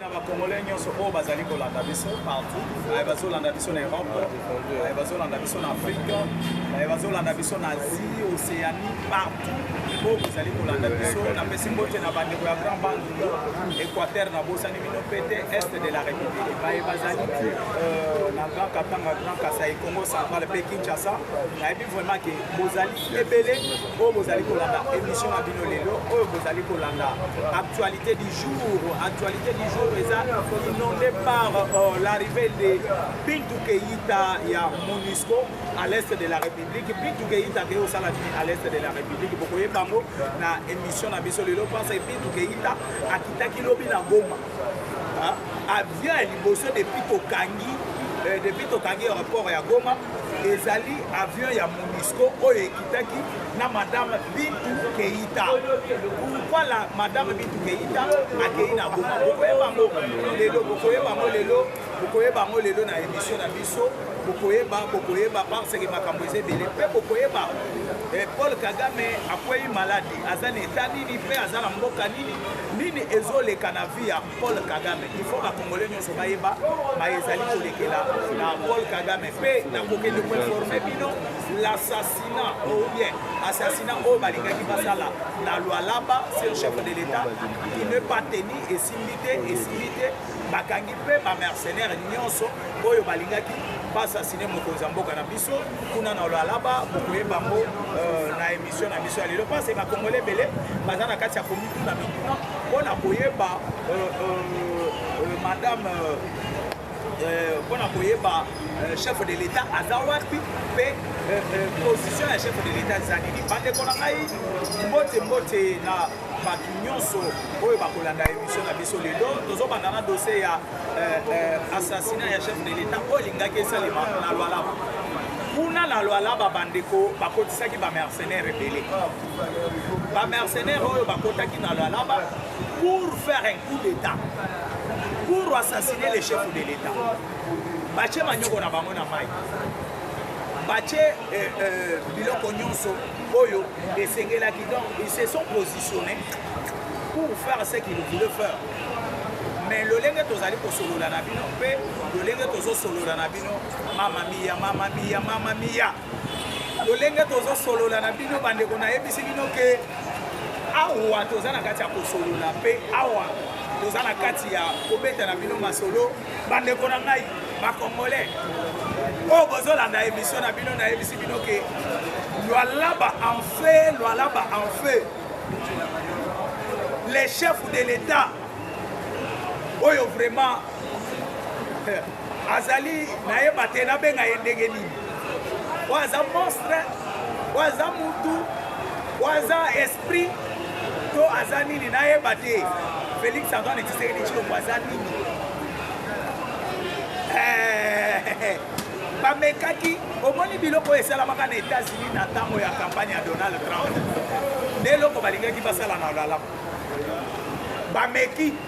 na ba congolais nyonso oyo bazali kolanda biso partout baye bazolanda biso na europe baye bazolanda biso na afrique baye bazolanda biso na asie océanie partout oyo bozali kolanda biso napesi mbote na bandeko ya grand bandundu équateur nabosani bino mpe te est de la république baye bazali euh, na grand katanga grand kasai congo central mpe kinshasa nayebi vraiment ke bozali ebele oyo bozali kolanda émission na bino lelo oyo bozali kolanda actualité du jour actualité du jour eza inondé par euh, l'arrivée de bintu keita ya monusco à l'est de la république bintu keita ke osala nini à l'est de la république bokoyeba yango na émission na biso lelo mpensa bintu keita akitaki lobi na goma avion ya liboso depuis tokangi euh, depuis tokangi aéroport ya goma ezali avion ya monisco oyo ekitaki na madame bintu keita pourkoi la madame bintu keita akei na goma bokoyebango lelo bokoyebango lelo bokoyebango lelo na émission na biso bokoyeba bokoyeba parce que makambo eza ebele mpe bokoyeba eh, paul kagame akwei malade aza na etat nini mpe aza na mboka nini nini ezoleka na vie ya paul kagame ifo bakongole nyonso bayeba baye ezali kolekela na paul kagame mpe nakokende koinforme bino l'assassinat ou bien assassinat oyo balingaki basala na lwalaba sur chef de l'état il ne pas tenu esimbi te esimbi te bakangi mpe bamercenaire nyonso oyo balingaki basasine mokonzi ya mboka na biso kuna na lwalaba bokoyeba yango euh, na Emission na biso ya lelo parce ba congolais bele baza na kati ya komituna mituna mpo na koyeba euh, euh, euh, madame mpo na koyeba chef de l'état aza wapi mpe position ya chef de l'état eza nini bandeko na ngai mbote mbote na bato nyonso oyo bakolanda emission na biso lelo tozobanda na dossier ya eh, eh, assassinat ya chef de l'etat oyo elingaki esalema na lwalaba kuna na lwalaba bandeko bakotisaki bamercenaire ebele bamercenaire oyo bakotaki na lwalaba pour faire un coup d'état pour assassiner le chef de l'état batie manyoko na bango na mai batie eh, biloko nyonso oyo esengelaki donc ils se sont positionnés pour faire ce qu'ils voulaient faire mais lolenge tozali kosolola na bino mpe lolenge tozosolola na bino mama miya mama miya mama miya lolenge tozosolola na bino bandeko nayebisi bino ke awa toza na kati ya kosolola mpe awa toza na kati ya kobeta na bino masolo bandeko na ngai bakongole oyo oh, bozolanda emission na bino nayebisi bino ke lwalaba en feu lwalaba en feu les chefs de l'état oyo vraiment eh, azali nayeba te nabenga ye ndenge nini oyo aza monstre oyo aza mutu oyo aza esprit to aza nini nayeba te félix antoine tshisekedi tshilombo aza nini eh, bamekaki omoni biloko oyo esalamaka na états-unis na ntango ya campagne ya donald trump nde eloko balingaki basala na olalamu bameki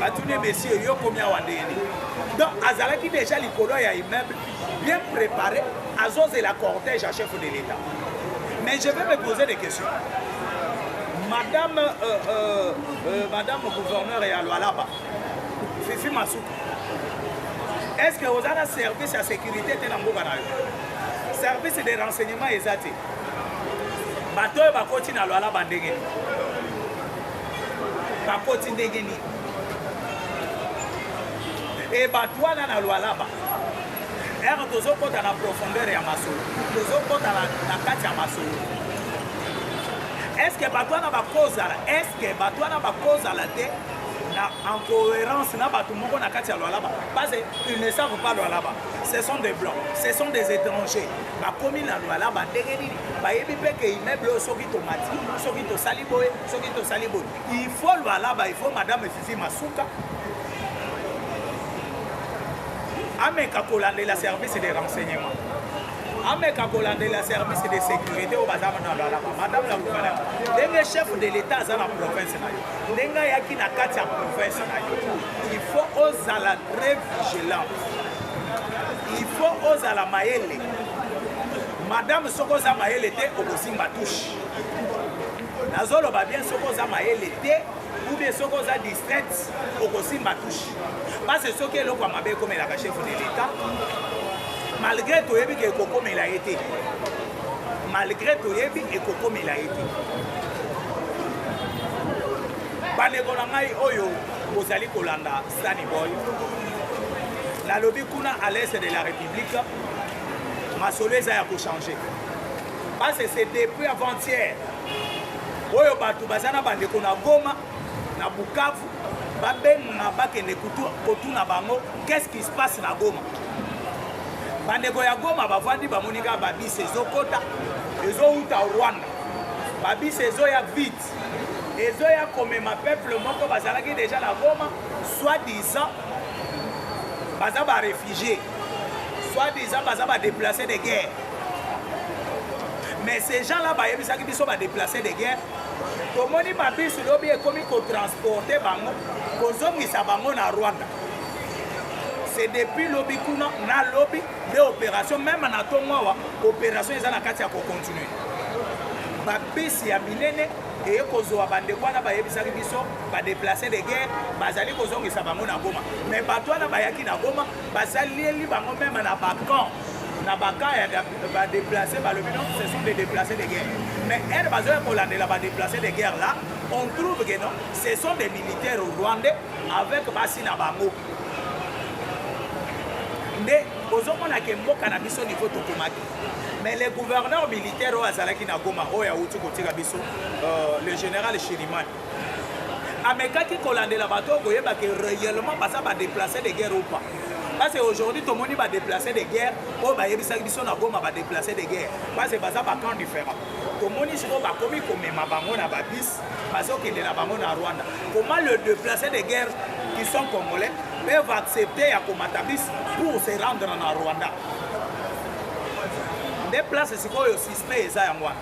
batuni ye monsieur yo komi awa ndenge nini donc azalaki déjà likolo ya immeuble bien préparé azozela cortège ya chef de l'état mais je vais me poser des questions madame euh, euh, euh, madame gouverneur ya lwalaba fifi masuku est ce que oza na service ya sécurité te na mboka na yo service de renseignement eza te bato oyo bakoti na lwalaba ndenge nini bakoti ndenge nini e bato wana na lwalaba ere tozokɔta na profondeur ya masolo tozokɔta na kati ya masolo eske bato wana bakozala eske bato wana bakozala te na en cohérence na bato moko na kati ya lwalaba parce ils ne savent pas lwalaba ce sont des blancs ce sont des étrangers bakomi na lwalaba ndenge nini bayebi mpe ke immeuble oyo soki tomati soki tosali boye soki tosali boye il faut lwalaba il faut madame fifi masuka ameka kolandela service de renseignement ameka kolandela service de sécurité oyo baza na lwalaba madame la gouverneur ndenge chef de l'état aza na province na yo ndenge ayaki na kati ya province na yo il faut ozala très vigilant il faut ozala mayele madame soki oza mayele te okosimba touche nazoloba bien soki oza mayele te oubien soki oza distraite okosimba touche parce soki eloko ya mabe ekomelaka chef de l'etat malgré toyebi ke ekokomela ye te malgré toyebi ekokomela ye te bandeko na ngai oyo bozali kolanda stani boy nalobi kuna à l'est de la république masolo eza ya kochange Parce c'est depuis avant-hier oyo bato baza na bandeko na Goma na Bukavu babenga bakende kotuna bango qu'est-ce qui se passe na Goma. Bandeko ya Goma bavandi bamoni kaka babisi ezokota ezowuta Rwanda, babisi ezoya vite ezoya komema peuple moko bazalaki deja na Goma soit disant baza ba réfugiés soit disant baza ba déplacés de guerre mais ces gens là bayebisaki biso badeplace de guerre tomoni babisi lobi ekomi kotransporte bango kozongisa bango na rwanda c'est depuis lobi kuna na lobi nde opération meme na ntongo awa opération eza na kati ya kocontinue babisi ya minene eye kozwa bandeko wana bayebisaki biso badeplace de guerre bazali kozongisa bango na goma mais bato wana bayaki na goma basaleli bango meme na bacamp na baka ya badeplace balobi non ce sont des déplacés de guerre mais ere bazoya kolandela badeplace de guerre là on trouve que non ce sont des militaires rwandais avec basi na bango nde bozomona ke mboka na biso niveau tokomaki mais le gouverneur militaire oyo azalaki na goma oyo awuti kotika biso euh, le général shirimani amekaki kolandela bato oyo koyeba ke réellement baza badeplace de guerre ou pas parce que aujourd'hui tomoni badeplace de guerre oyo bayebisaki biso na goma badeplace de guerre parce que baza bacamp différent tomoni sikoyo bakomi komema bango na babis bazokende na bango na rwanda comment le déplacé de guerre qui sont congolais peuvent accepter ya komata bis pour se rendre na rwanda nde place sikoyo suspect eza yango wana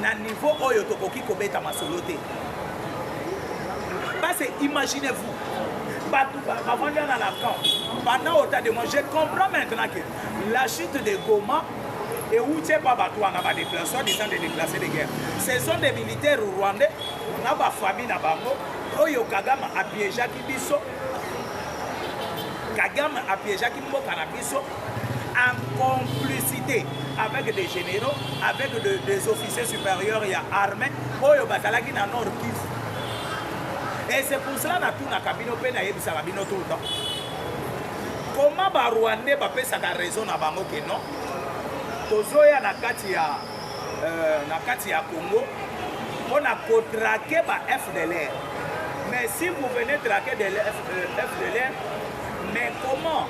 na niveau oyo tokoki kobeta masolo te base imaginez vous bato bavandi na lacan pendant autant de moi je comprends maintenant que la chute de goma euti epa bato wana badeplace soit disant de déplace de guerre ce sont des militaires rwandais na bafamille na bango oyo kagame apiejaki biso kagame apiejaki mboka na biso en complicité avec des généraux, avec de, des officiers supérieurs ya armée oyo bazalaki na Nord Kivu. Et c'est pour cela natunaka bino mpe nayebisaka bino tout le temps comment barwandais bapesaka raison na bango ke non tozoya na kati ya euh, na kati ya congo mpo na kotrake ba fdlr mais si vous venez traquer de fdlr euh, mais comment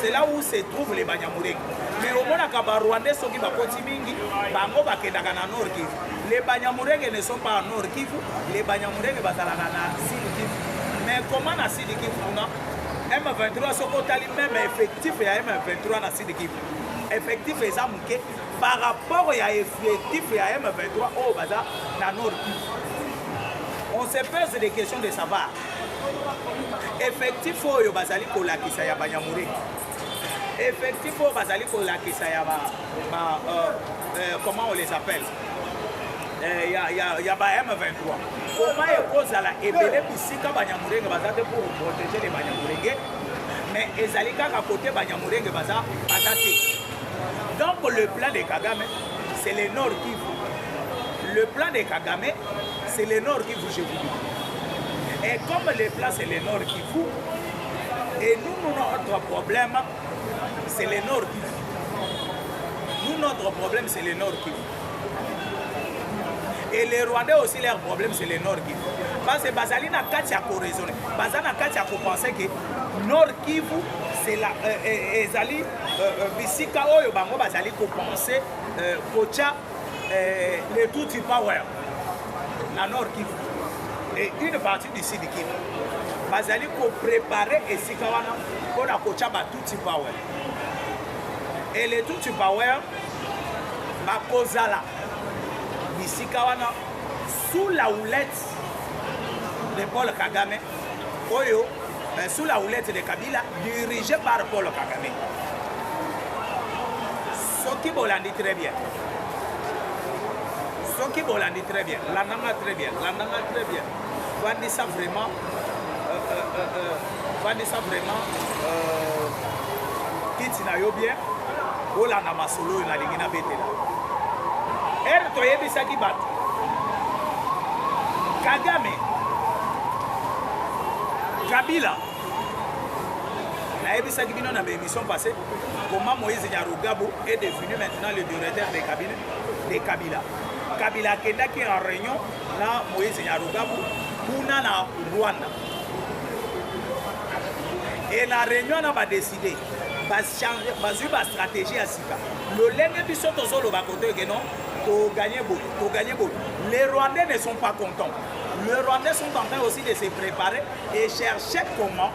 c'est là où se trouve les banyamulenge mais omonaka barwandais soki bakoti mingi bango bakendaka na nord kivu les banyamulenge ne sont pas nord kivu les banyamulenge bazalaka na sud kivu mais comment na sud kivu kuna m23 soki otali meme effectif ya m23 na sud kivu effectif eza moke par rapport ya effectif ya m23 oyo baza na nord kivu on se pose des questions de savoir effectif oyo bazali kolakisa ya banyamuriki effectif oyo bazali kolakisa ya ba, ba euh, euh, comment on les appelle euh, ya, ya, ya ba M23 koma ekozala ebele bisika banyamurenge baza te pour protéger les banyamurenge mais ezali kaka kote banyamurenge baza baza te donc le plan de kagame c'est le nord kivu le plan de kagame C'est le nord qui vous je vous dis. Et comme les plats c'est le nord qui vous, et nous, nous notre problème, c'est le nord qui vous. Nous, notre problème, c'est le nord qui vous. et les rwandais aussi leur problème c'est le nord kivu parce que bazali na kati ya koraisonne baza na kati ya kopense ke nord kivu ezali bisika oyo bango bazali kopense kotya eh, les Tutsi power na Nord Kivu et une partie du Sud Kivu bazali koprepare esika wana mpo na kotya ba Tutsi power et les Tutsi power bakozala bisika wana sous la houlette de Paul Kagame oyo Mais sous la houlette de Kabila, dirigé par Paul Kagame. Soki bolandi très bien. Soki bolandi très bien. Landanga très bien. Landanga très bien. Vandisa vraiment. Euh, euh, euh, euh, vandisa vraiment. Euh, kiti na yo bien. Olanda masolo oyo nalingi nabetela. Ere toyebisaki bato. Kagame Kabila nayebisaki bino na baémission passé comment moïse nyarugabo est devenu maintenant le directeur de kabila, de kabila. kabila akendaki en réunion na moïse nyarugabo kuna na rwanda e na réunion na badeside bazwi bastratégie ya sika lolenge biso tozoloba kotoyeke non toganye boye toganye boye les rwandais ne sont pas contents Le Rwandais sont en train aussi de se préparer et chercher comment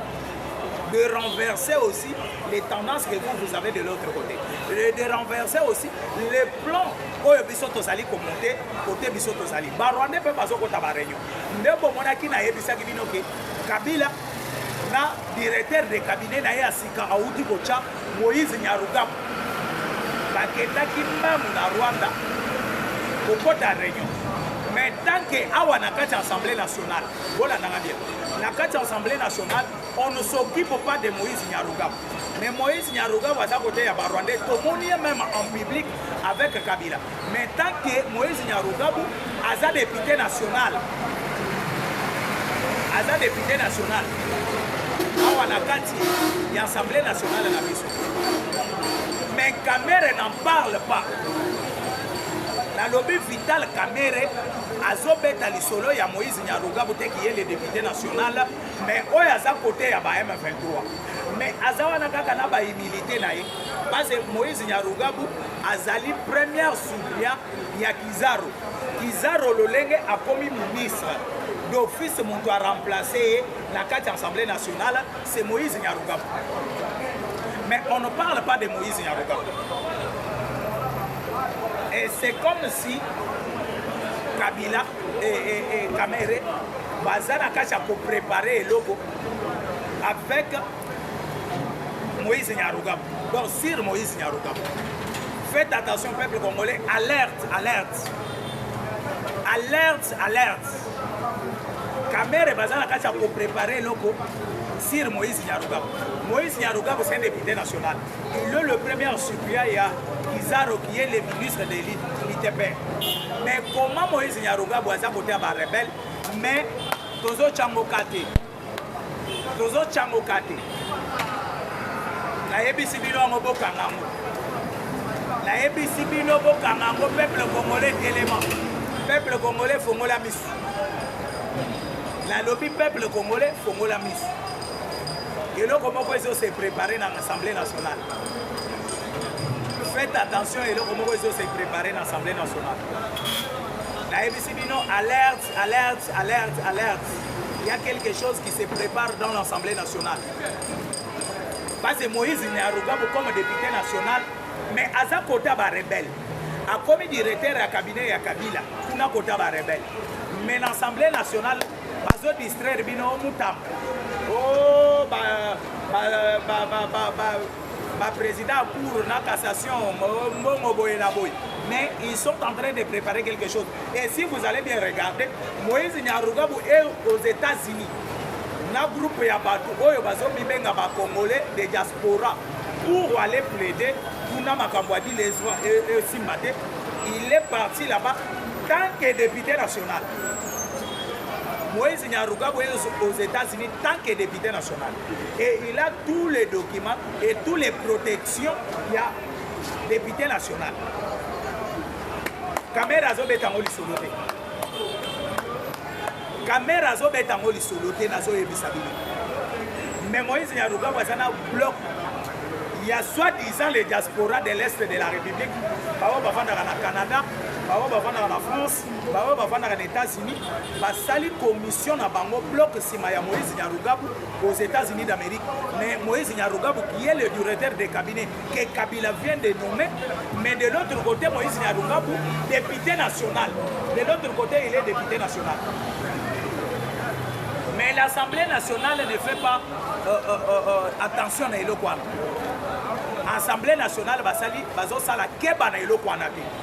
de renverser aussi les tendances que vous, vous avez de l'autre côté. Et de renverser aussi les plans oyo biso tozali komonte kote biso tozali barwandais mpe bazokota bareunion nde bomonaki nayebisaki bino ke kabila na directeur de cabinet na ye ya sika awuti kotya Moïse Nyarugabo bakendaki mbangu na Rwanda kokota reunion mais tant que awa na kati ya assemblée nationale bolandanga bien na kati ya assemblée nationale on ne s'occupe pas de Moïse Nyarugabo mais Moïse Nyarugabo aza koteya ba Rwandais tomoni ye même en public avec Kabila Mais tant que Moïse Nyarugabo aza député national, aza député national awa na kati ya assemblée nationale na biso mais kamere n'en parle pas nalobi vital kamere azobeta lisolo ya moïse nyarugabu te kiye le député national mais oyo aza kote ya ba m23 mais aza wana kaka na bahumilité na ye base moïse nyarugabu azali première supplia ya kizaro kizaro lolenge akomi ministre d'office moto a remplace ye na kati ya assemblée nationale c'est moïse nyarugabu mais on ne parle pas de moïse nyarugabu et c'est comme si kabila et, et, et kamere baza na kati ya koprépare eloko avec Moïse Nyarugabo. Donc sur Moïse Nyarugabo. Faites attention peuple congolais, alerte, alerte. Alerte, alerte. Kamere bazala kati ya koprepare eloko sur Moïse Nyarugabo. Moïse Nyarugabo c'est un député national. Il est le premier suppléant ya Kizaro qui est le ministre de l'ITP. Mais comment Moïse Nyarugabo aza côté ya ba rebelle mais tozo chango kate tozotyango kate nayebisi bino yango bokanga yango nayebisi bino bokanga yango peuple congolais telema peuple congolais fongola misu nalobi peuple congolais fongola misu eloko moko ezo se prépare na assemblée nationale faites attention eloko moko ezo se prépare na assemblée nationale nayebisi bino alerte Alerte, alerte, alerte. Il y a quelque chose qui se prépare dans l'Assemblée nationale. Parce que Moïse n'est arrogant comme député national, mais aza kota ba rebelle. A commis directeur à cabinet à Kabila, kuna kota ba rebelle. Mais l'Assemblée nationale bazo distraire bino mutam. Oh ba ba ba ba ba, ba ba président ya cour na cassation mbongo boye na boye mais ils sont en train de préparer quelque chose et si vous allez bien regarder moïse nyarugabu est aux états-unis na groupe ya bato oyo bazomibenga bacongolais de diaspora pour aller plaider kuna makambo ya bile esimba te il est parti là-bas tant que député national moïse nyarugabu est aux états-unis tant que député national et il a tous les documents et tous les protections ya député national kamera azobeta yango lisolo te kamera azobeta yango lisolo te nazoyebisa bino mais moïse nyarukabu aza na bloc ya soit disant les diaspora de l'est de la république baoyo bafandaka na canada baoyo bafandaka na france baoyo bavandaka na Etats-Unis basali commission na bango bloc nsima ya Moïse Nyarugabu aux Etats-Unis d'Amérique. Mais Moïse Nyarugabu qui est le directeur de cabinet que Kabila vient de nommer, mais de l'autre côté Moïse Nyarugabu député national. De l'autre côté il est député national. Mais l'Assemblée nationale ne fait pas euh, euh, euh, euh attention à Eloquana. Assemblée nationale basali bazosala keba na eloko wana te.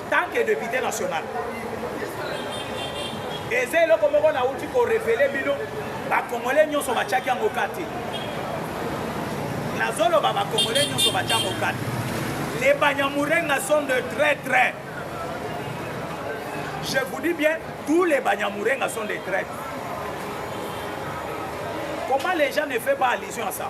tant que depute national eza eloko moko nauti korevele bino bakongole nyonso batyaki yango kati nazoloba bakongole nyonso batya yango kati les banyamurenga sont de très très je vous dis bien tous les banyamurenga sont de très comment les gens ne fait pas allusion à ça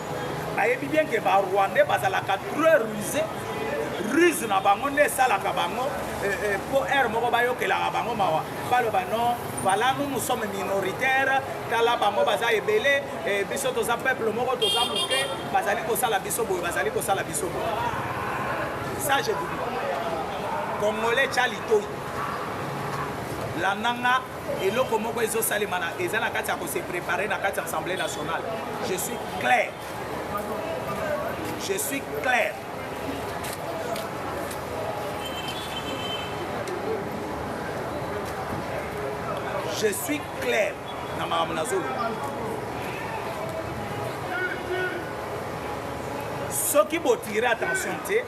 ayebi bien ke ba rwandais bazalaka très ruse ruse na bango nde esalaka bango eh, eh, mpo aire moko bayokelaka bango mawa baloba non voilà nous nous sommes minoritaire tala bango baza ebele eh, biso toza peuple moko toza moke bazali kosala biso boye bazali kosala biso boye ça je vous dis congolais tya litoi landanga eloko moko ezosalema eza na kati ya kose prepare na kati ya assemblée nationale je suis clair je suis clair je suis clair na makambo nazoloba soki botire attention te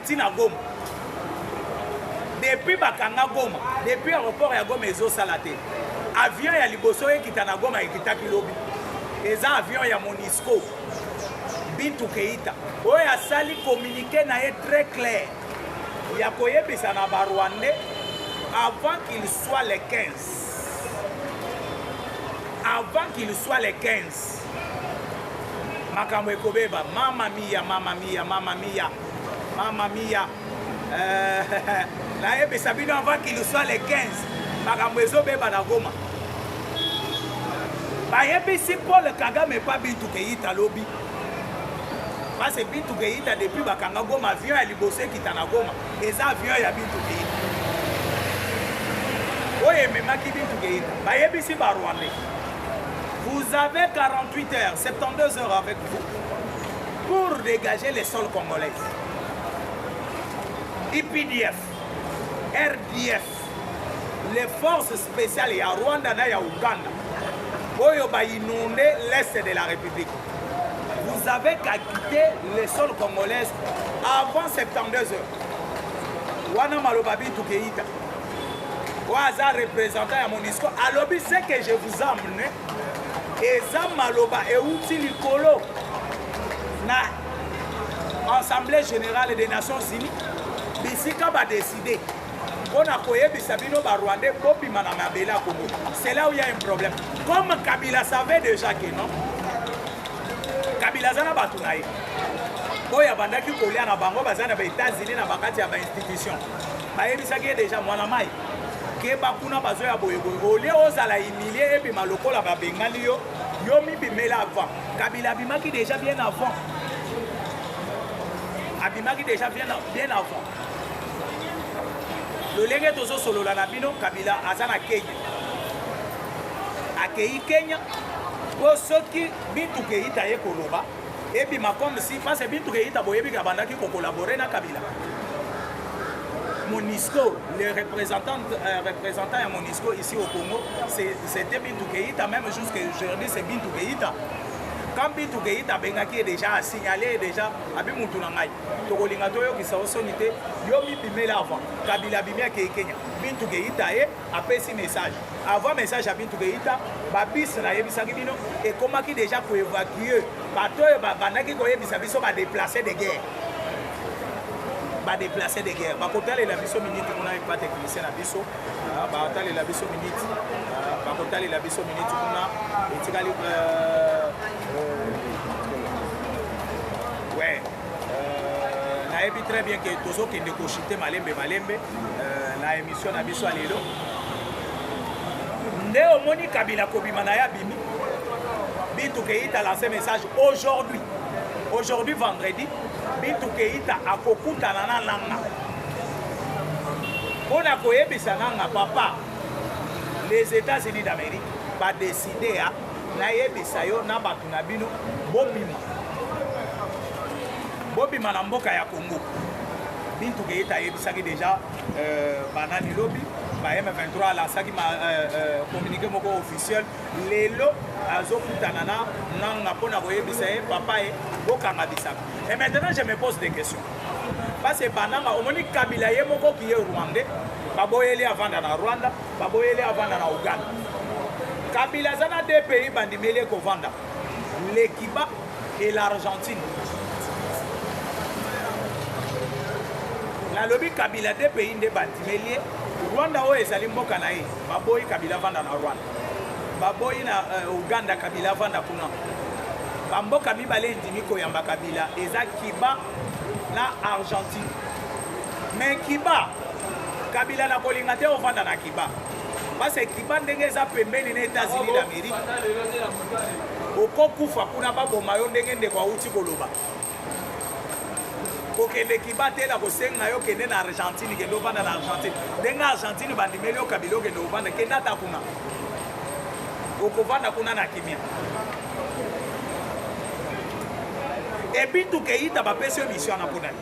ti na goma depuis bakanga goma depuis aéroport ya goma ezosala te avion ya liboso ekita na goma ekitaki lobi eza avion ya monisco bintu keita oyo asali communiqué na ye très clair ya koyebisa na barwandais avant qu'il soit le 15 avant qu'il soit le 15 makambo ekobeba mama miya mama miya mama miya mama miya eh, nayebisa bino avant kiluswa le 15 makambo ezobeba na goma bayebisi paul kagame epa bintu keyita lobi parce bintu keyita depuis bakanga goma avion ya liboso ekita na goma eza avion ya bintu keyita oyo ememaki bintu keyita bayebisi barwandais Vous avez 48 heures, 72 heures avec vous pour dégager les sols congolais. IPDF, RDF, les forces spéciales ya Rwanda na ya Ouganda oyo ba inonde l'est de la République. Vous avez qu'à quitter les sols congolais avant 72 heures. Wana maloba bitu keita. oyo aza représentant ya monisco alobi ce que je vous amne eza maloba euti likolo na assemblée générale des nations unies bisika badeside mpo na koyebisa bino barwandais bobima na mabele ya kongo c'est là où il y a un problème comme kabila savait déjà que non kabila aza na bato na ye oyo abandaki kolia na bango baza na ba-états-unis na bakati ya bainstitution bayebisaki ye deja mwana mai keba kuna bazo ya boyeboye olie ozala humilie ebima lokola babengani yo yo mibimela avant kabila abimaki deja bien avant abimaki deja bien avant lolenge tozosolola na bino kabila aza na kenya akei kenya mpo soki mituka eyita ye koloba ebima comme si parce que bintu keita boyebi ke abandaki ko collaborer na kabila Monisco, le représentant, euh, représentant à Monisco ici au Congo, c'était Bintou Keïta, même jusqu'à aujourd'hui c'est Bintou Keïta. Quand Bintou Keïta abengaki déjà a signalé déjà abi mutu na ngai tokolinga toyokisa osoni te yo mibimela avant kabila abimi akei kenya Bintou Keïta ye eh, apesi message avant message ya bintu keita babisi nayebisaki bino ekomaki deja koevacue bato oyo babandaki koyebisa biso badeplace de guerre badeplace de guerre bakotalela biso miniti kuna epa technicien na biso ah, batalela biso miniti ah, bakotalela biso miniti kuna etikali euh, euh, nayebi très bien ke tozokende koshite malembe malembe Euh, na emission na biso ya lelo nde omoni kabila kobima na ye abimi bitu keita lance message aujourd'hui aujourd'hui vendredi bitu keita akokutana na nanga mpo na koyebisa nanga papa les états-unis d'amérique badeside ya nayebisa yo na bato na bino bobima bobima na mboka ya congo Bintu Keita ayebisaki deja euh, banani lobi ba M23 alasaki ma euh, euh, communiqué moko officiel lelo azokutana na nanga mpo na koyebisa ye papa ye bokanga bisaka et maintenant je me pose des questions parce que bananga omoni kabila ye moko kiye rwandais baboyeli avanda na rwanda baboyeli avanda na uganda kabila aza na de pays bandimeli ekovanda lekiba et l'Argentine. nalobi kabila de pays nde bandimeli ye rwanda oyo ezali mboka na ye baboyi kabila avanda na rwanda baboyi na uh, uganda kabila avanda kuna bamboka mibale endimi koyamba kabila eza kiba na argentine me kiba kabila na kolinga te ovanda na kiba parce kiba ndenge eza pembeni na etats-unis d'amérique okokufa kuna baboma yo ndenge ndeko awuti koloba kokende kibatela kosenga yo kende na argentine kende ovanda na argentine ndenge argentine bandimeli yo kabila okende ovanda kende ata kuna okovanda kuna na kimia ebintu keita bapesi yo misio wana mpo nani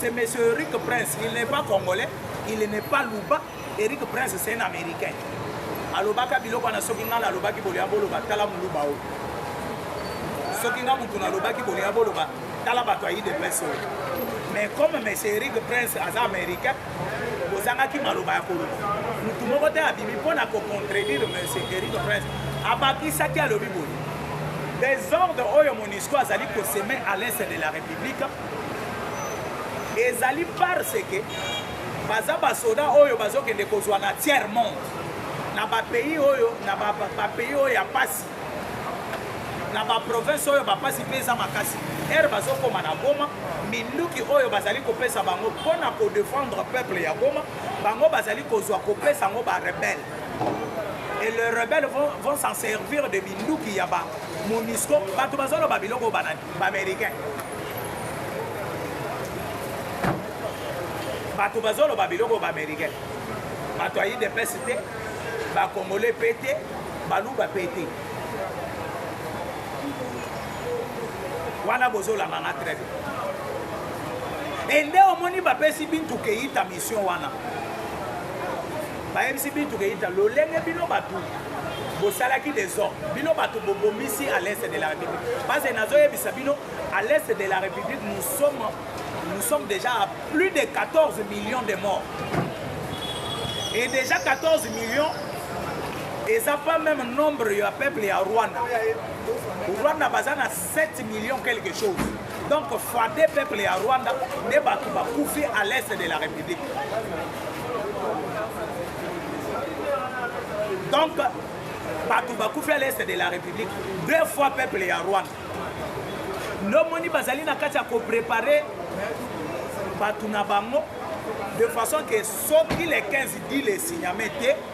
C'est monsieur Eric Prince, il n'est pas congolais, il n'est pas luba. Eric Prince c'est un américain. alobaka biloko wana soki ngai nalobaki bolia boloba tala moluba oyo soki ngai motu nalobaki bolia boloba tala bato ya idps oyo mais comme monsieur eric prince aza américain bozangaki maloba ya koloba motu moko te abimi mpo na kocontredire monsieur eric prince abakisaki alobi boye desordre oyo monisco azali koseme à l'est de la république ezali parce que baza basoda oyo bazokende kozwa na tiers monde na bapays oyo na bapays oyo ya mpasi na baprovince oyo bapasi mpe eza makasi ere bazokoma na goma minduki oyo bazali kopesa bango mpo na kodefendre peuple ya goma bango bazali kozwa kopesa yango barebele et le rebelle vont, vont s'en servir de minduki ya ba monisco bato bazoloba biloko banani bamericain bato bazoloba biloko bamericain bato ya idps te bakongole mpe te baluba mpe te wana bozolanga nga très bien ende omoni bapesi bintu keita mission wana Bayebisi Bintu Keita lolenge bino batu bosalaki desordre bino bato bobomisi à l'est de la république parce que nazoyebisa bino à l'est de la république nous sommes, nous sommes déjà à plus de 14 millions de morts et déjà 14 millions eza pas même nombre ya peuple ya rwanda rwanda baza na 7 millions quelque chose donc fois deux peuple ya rwanda nde bato bakufi à l'est de la république donc bato bakufi à l'est de la république deux fois peuple ya rwanda ndomoni bazali na kati ya koprepare bato na bango de façon que soki le 15 dit le signame te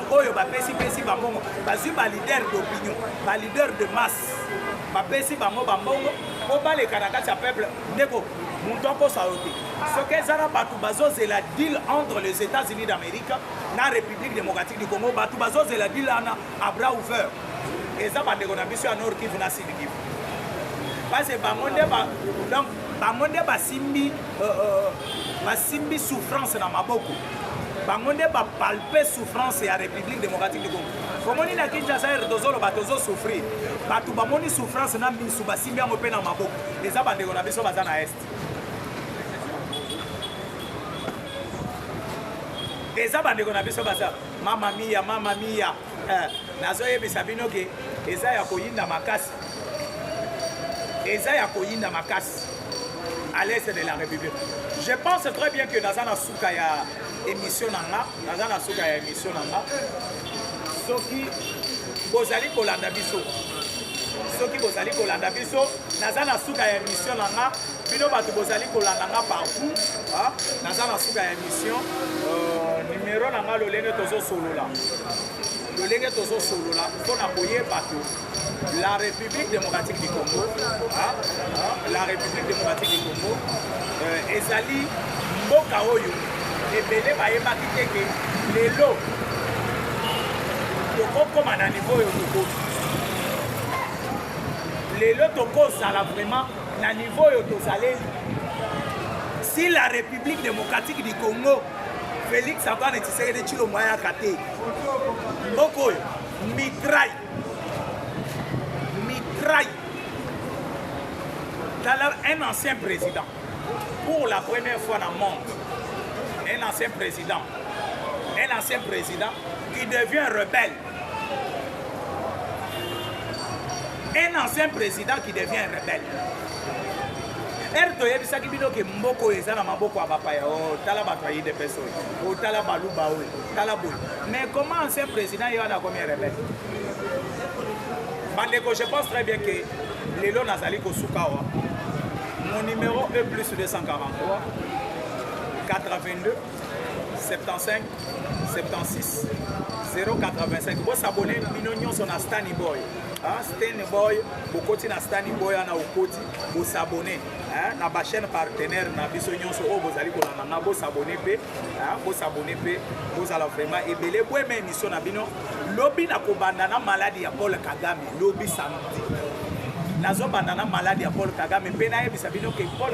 oyo bapesi pesi bambongo bazwi ba leader d'opinion ba leader de masse bapesi bango bambongo mpo baleka na kati ya peuple ndeko moto akosa yo te soki eza na bato bazozela deal entre les états-unis d'amérique na république démocratique du congo bato bazozela deal wana abra ouver eza bandeko na biso ya nord kivu na sud kivu parce bango nde donc bango nde basimbi euh, euh, basimbi souffrance na maboko bango nde ba palpe souffrance ya république démocratique du congo omoni na kinshasa ere tozoloba tozosouffrir bato bamoni souffrance na misu basimbi yango mpe na maboko eza bandeko na biso baza na est eza bandeko na biso baza mama miya mama miya eh, nazoyebisa bino ke eza ya koyinda makasi eza ya koyinda makasi à l'est de la république je pense très bien que naza na suka ya emission na nga naza na suka ya emission na nga soki bozali kolanda biso soki bozali kolanda biso naza na suka ya emission na nga bino bato bozali kolanda nga partout ah, naza na suka ya emission euh, numero na nga lolenge tozosolola lolenge tozosolola mpo na koyeba to La République démocratique du Congo, hein, la République démocratique du Congo euh, ezali mboka oyo ebele bayebaki te ke lelo tokokoma na niveau oyo tokoki lelo tokozala vraiment na niveau oyo tozaleli si la république démocratique du congo félix antoine tshisekedi tshilombo ayaka te mboka oyo mitraille Mitrai. Tala un ancien président. Pour la première fois dans le monde, un ancien président, un ancien président qui devient rebelle. Un ancien président qui devient rebelle. ere toyebisaki bino ke mboko oyo eza na maboko ya bapaya otala oh, bato ya idps oyo otala baluba oyo tala boye mais comment ancien président ye wana akomi rebel bandeko je pense très bien que lelo nazali kosuka awa mon numéro e plus 243 82 75 76 085 bosabone bino nyonso na stani boy stani boy bokoti na stani boy ana okoti bosabone na bachaîne partenaire na biso nyonso oyo bozali kolanda na bosabone mpe bosabone mpe bozala vraiment ebele boyema émission na bino lobi nakobanda na maladi ya paul kagame lobi samedi nazobanda na maladi ya paul kagame mpe nayebisa bino ke paul